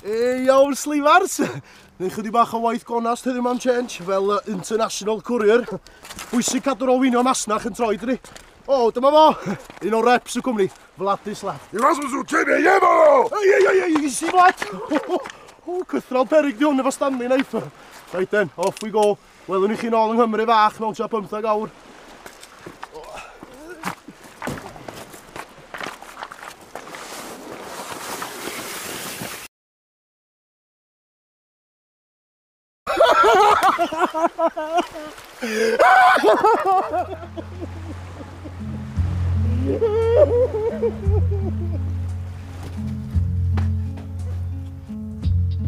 E, iawn, slifars! Neu chydig bach o waith gonast heddiw mam Change, fel uh, international courier. Bwysig cadw'r olwynio masnach yn troi dri. O, oh, dyma fo! Un o reps y cwmni, Vladis Left. I was with Kim e yema! Ei, ei, ei, ei, si Vlad! O, cythral perig di hwn efo Stanley Knife. Right then, off we go. Welwn i chi nôl yng Nghymru fach mewn tua 15 awr.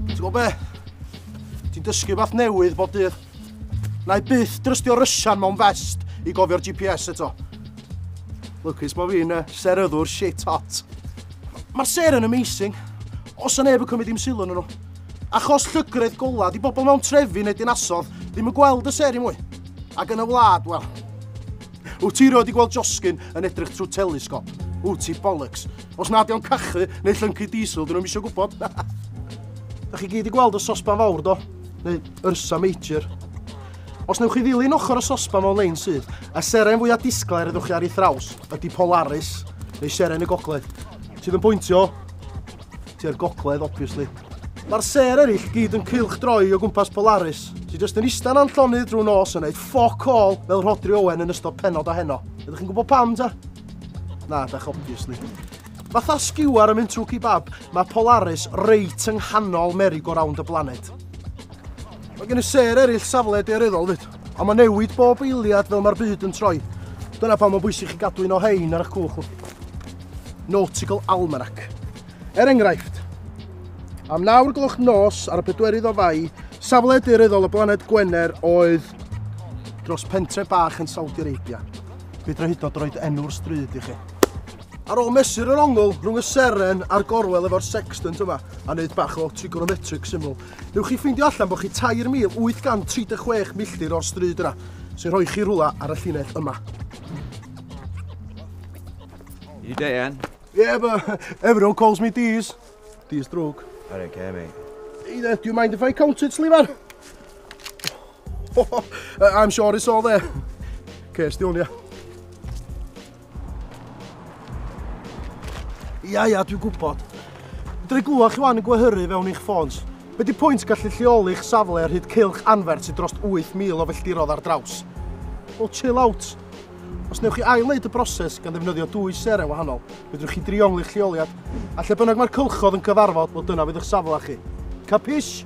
Ti'n gwybod be? Ti'n dysgu fath newydd bob dydd. Na i byth drystio rysian mewn fest i gofio'r GPS eto. Lwcus bod fi'n uh, seryddwr shit hot. Mae'r ser yn amazing. Os yna neb yn cymryd i'm sylw nhw. Achos llygredd gola, di bobl mewn trefi neu dinasodd ddim yn gweld y ser i mwy. Ac yn y wlad, wel. Wyt ti roed i gweld Josgyn yn edrych trwy telesgop? Wyt ti bollocks? Os nad o'n cachu neu llyncu diesel, dyn nhw'n misio gwybod. da chi gyd i gweld y sosban fawr do? Neu Ursa Major. Os newch chi ddilyn ochr y sosban mewn lein sydd, y seren fwyaf disglair ydwch chi ar ei thraws ydy Polaris, neu seren y gogledd, sydd yn pwyntio tua'r gogledd, obviously. Mae'r ser eraill gyd yn cylch droi o gwmpas Polaris, sy'n jyst yn istan a'n llonydd drwy nos yn neud ffoc all fel Rhodri Owen yn ystod penod o heno. Ydych chi'n gwybod pam ta? Na, dach, obviously. Fatha skewer yn mynd trwy kebab, mae Polaris reit yng nghanol merry-go-round y blaned. Mae gen i ser eraill safle deoreddol fyd, a mae newid bob eiliad fel mae'r byd yn troi. Dyna pam mae'n bwysig chi gadw un o hein ar eich cwch. Nautical Almanac. Er enghraifft, am nawr gloch nos ar y pedwerydd o fai, safle deoreddol y blaned Gwener oedd dros pentre bach yn Saudi Arabia. fedra hyd yn oed roed enw'r stryd i chi. Ar ôl mesur yr ongl rhwng y seren a'r gorwel efo'r sextant yma a wneud bach o trigonometric syml, newch chi ffeindio allan bod chi 3,836 milltir o'r stryd yna, sy'n rhoi chi rhwla ar y llinell yma. You day, Anne? Yeah, but everyone calls me Dees. Dees drwg. I don't care, mate. Hey there, do you mind if I count it, Sliver? I'm sure it's all there. Cestiwn, ia. Ia, ia, dwi'n gwybod. Dwi glwach chi wan yn gwehyru fewn eich ffons. Be di pwynt gallu lleoli eich safle ar hyd cilch anfer sydd dros 8,000 o felldirodd ar draws? Wel, chill out. Os newch chi ail-wneud y broses gan ddefnyddio dwy seren wahanol, fedrwch chi driongl eich lleoliad, a lle bynnag mae'r cylchodd yn cyfarfod, bod dyna fydd eich safle chi. Capish?